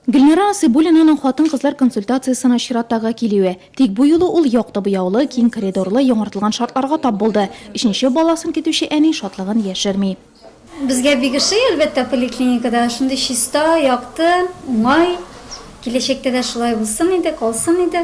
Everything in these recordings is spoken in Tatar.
Гөлнара Асыйбуллинаның хатын-кызлар консультациясенә чираттагы килүе. Тик бу юлы ул якты буяулы, киң коридорлы, яңартылган шартларга тап булды. Өченче баласын көтүче әни шатлыгын яшерми. Безгә бик ошый, әлбәттә, поликлиникада. Шундый чиста, якты, уңай. Киләчәктә дә шулай булсын иде, калсын иде.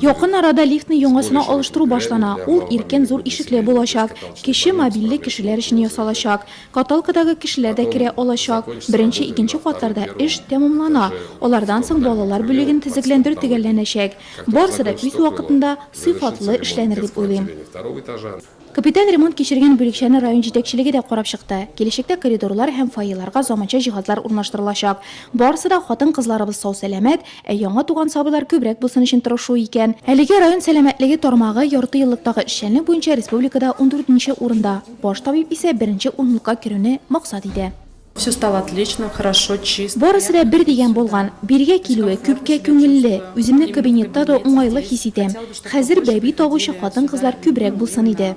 Якын арада лифтны яңасына алыштыру башлана, ул иркен зур ишекле булачак, кече мобильле кешеләр өчен ясалачак. Каталкадагы кешеләр дә керә алачак. Беренче, икенче катларда эш тәмамлана, алардан соң балалар бүлеген төзекләндерү төгәлләнәчәк. Барысы да үз вакытында, сыйфатлы эшләнер дип уйлыйм. Капиталь ремонт кичергән бүлекчәне район җитәкчелеге дә карап чыкты. Киләчәктә коридорлар һәм фойеларга заманча җиһазлар урнаштырылачак. Барысы да хатын-кызларыбыз сау-сәламәт, ә яңа туган сабыйлар күбрәк булсын өчен тырышу икән. Әлегә район сәламәтлеге тармагы яртыеллыктагы эшчәнлек буенча республикада ундүртенче урында, баш табиб исә беренче унлыкка керүне максат итә. Все стало отлично, хорошо, чисто. Барысы да бер дигән булган. Бирегә килүе күпкә күңелле. Үземне кабинетта да уңайлы хис итәм. Хәзер бәби табучы хатын-кызлар күбрәк булсын иде.